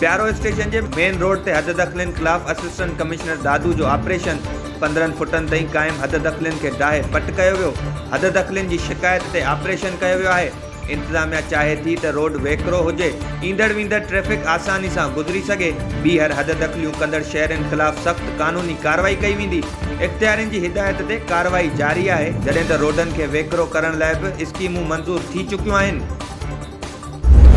پيارو اسٽيشن جي main road تي حددخلين خلاف اسسٽنٽ ڪمشنر دادو جو آپريشن پندرهن فٽن تائين قائم حددخلين کي ڊاهي پٽ ڪيو ويو حددخلين جي شڪايت تي آپريشن ڪيو ويو آهي انتظاميا چاهي ٿي ته روڊ ويڪرو هجي، ايندڙ ويندڙ ٽريفڪ آساني سان گذري سگهي، ٻيهر حد دخليون ڪندڙ شهرين خلاف سخت قانوني ڪارروائي ڪئي ويندي، اختيارين جي هدايت تي ڪارروائي جاري آهي، جڏهن ته روڊن کي ويڪرو ڪرڻ لاء به اسڪيمون منظور ٿي چڪيون آهن.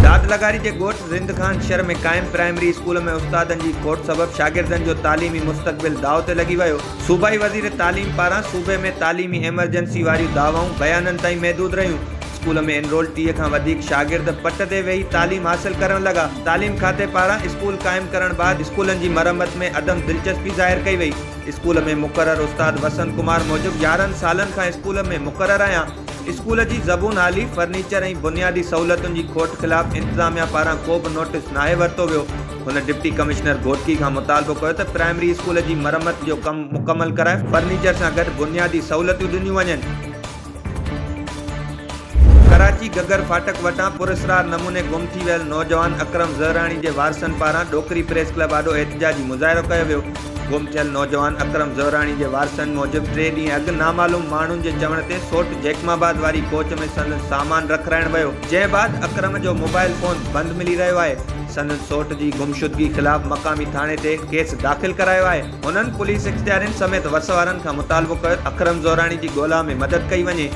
داد لغاري جي ڳوٺ رند خان شھر ۾ قائم پرائمري اسڪول ۾ استادن جي کوٽ سبب شاگردن جو تعليمي مستقبل داء تي لڳي ويو، صوبائي وزير تعليم پاران صوبي ۾ تعليمي ايمرجنسي واريون دعوائون بيانن تائين محدود رهيون، اسڪول ۾ انرول ٽيهه کان وڌيڪ شاگرد پٽ تي ويهي تعليم حاصل ڪرڻ لڳا، تعليم کاتي پاران اسڪول قائم ڪرڻ بعد اسڪولن جي مرمت ۾ عدم دلچسپي ظاهر ڪئي وئي، اسڪول ۾ مقرر استاد وسنت ڪمار موجب يارهن سالن کان اسڪول ۾ مقرر آهيان، اسڪول جي زبون حالي، فرنيچر ۽ بنيادي سهولتن جي کوٽ خلاف انتظاميا پاران ڪو به نوٽيس ناهي ورتو ويو. هن ڊپٽي ڪمشنر گهوٽڪي کان مطالبو ڪيو ته پرائمري اسڪول جي مرمت جو ڪم مڪمل ڪرائي فرنيچر سان گڏ بنيادي سهولتيون ڏنيون وڃن. ڪراچي گگر ڦاٽڪ وٽان پراسرار نموني گم ٿي ويل نوجوان اڪرم زهراڻي جي وارثن پاران ڏوڪري پريس ڪلب آڏو احتجاجي مظاهرو ڪيو ويو گم ٿيل نوجوان اڪرم زهراڻي جي وارثن موجب ٽي ڏينهن اڳ نامعلوم ماڻهن جي چوڻ تي سوٽ جيڪم آباد واري ڪوچ ۾ سندس سامان رکرائڻ ويو جنهن بعد اڪرم جو موبائل فون بند ملي رهيو آهي سندن سوٽ جي گمشدگي خلاف مقامي ٿاڻي تي ڪيس داخل ڪرايو آهي. هنن پوليس اختيارين سميت وس وارن کان مطالبو ڪيو ته اڪرم زوراڻي جي ڳولا ۾ مدد ڪئي وڃي.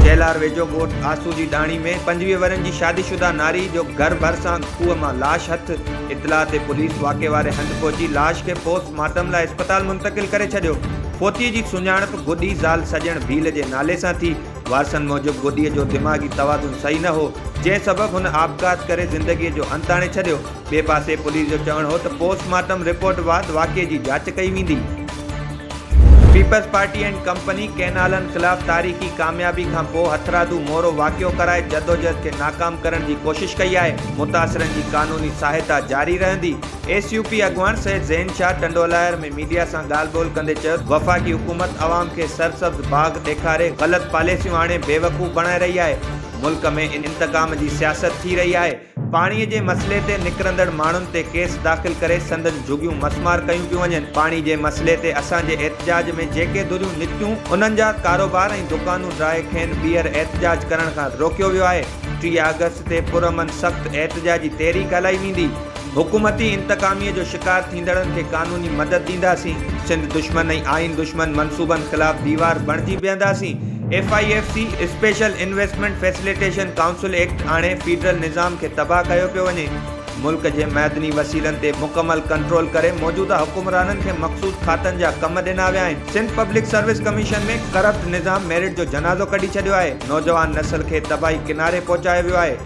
چيلهار ويجهو ڳوٺ آسو جي ڏاڻي ۾ پنجويهه ورهين جي شادي شده ناري جو گهر ڀرسان کوهه مان لاش هٿ. اطلاع تي پوليس واقعي واري هنڌ پهچي لاش کي پوسٽ مارٽم لاء اسپتال منتقل ڪري ڇڏيو. فوتي جي سڃاڻپ گڏي زال سڄڻ ڀيل جي نالي سان ٿي. وارثن موجب گڏيء جو دماغي توازن صحيح نه هو، جنهن سبب هن آپگهات ڪري زندگيء جو انت آڻي ڇڏيو. ٻئي پاسي پوليس جو چوڻ هو ته پوسٽ مارٽم رپورٽ بعد واقعي جي جاچ ڪئي ويندي. پيپلز پارٽي اينڊ ڪمپني ڪئنالن خلاف تاريخي ڪاميابي کان پوء هٿرادو مورو واقعو ڪرائي جدوجهد کي ناڪام ڪرڻ جي ڪوشش ڪئي آهي، متاثرن جي قانوني سهائتا جاري رهندي، ايس يو پي اڳواڻ سيد ذهين شاهه ٽنڊوالهيار ۾. ميڊيا سان ڳالهه ٻولهه ڪندي چيو ته وفاقي حڪومت عوام کي سرسبز باغ ڏيکاري غلط پاليسيون آڻي بيوقوف بڻائي رهي آهي، ملڪ ۾ انتقام جي سياست ٿي رهي آهي، پاڻي جي مسئلي تي نڪرندڙ ماڻهن تي ڪيس داخل ڪري سندن جهڳيون مسمار ڪيون پيون وڃن، پاڻي جي مسئلي تي اسان جي احتجاج ۾ جيڪي ڌريون نڪتيون انهن جا ڪاروبار ۽ دڪانون ڊاهي کين ٻيهر احتجاج ڪرڻ کان روڪيو ويو آهي، ٽيهه آگسٽ تي پرامن سخت احتجاجي تحريڪ هلائي ويندي. حڪومتي انتقاميء جو شڪار ٿيندڙن کي قانوني مدد ڏينداسين، سنڌ دشمن ۽ آئين دشمن منصوبن خلاف ديوار بڻجي بيهنداسين، F I F C, special investment facilitation council act آڻي فيڊرل نظام کي تباهه ڪيو پيو وڃي، ملڪ جي معدني وسيلن تي مڪمل ڪنٽرول ڪري موجوده حڪمرانن کي مخصوص کاتن جا ڪم ڏنا ويا آهن، Sindh public service commission ۾ corrupt نظام ميرٽ جو جنازو ڪڍي ڇڏيو آهي، نوجوان نسل کي تباهي ڪناري پهچايو ويو آهي.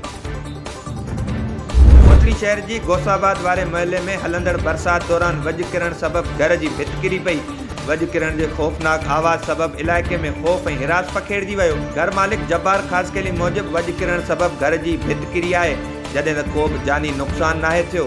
موٽلي شهر جي غوث آباد واري محلي ۾ هلندڙ برسات دوران وڄ ڪرڻ سبب گهر جي ڀت ڪري پئي، وڄ ڪرڻ جي خوفناڪ آواز سبب علائقي ۾ خوف ۽ حراس پکيڙجي ويو، گهر مالڪ جبار خاصخيلي موجب وڄ ڪرڻ سبب گهر جي ڀت ڪري آهي، جڏهن ته ڪوبه جاني نقصان ناهي ٿيو.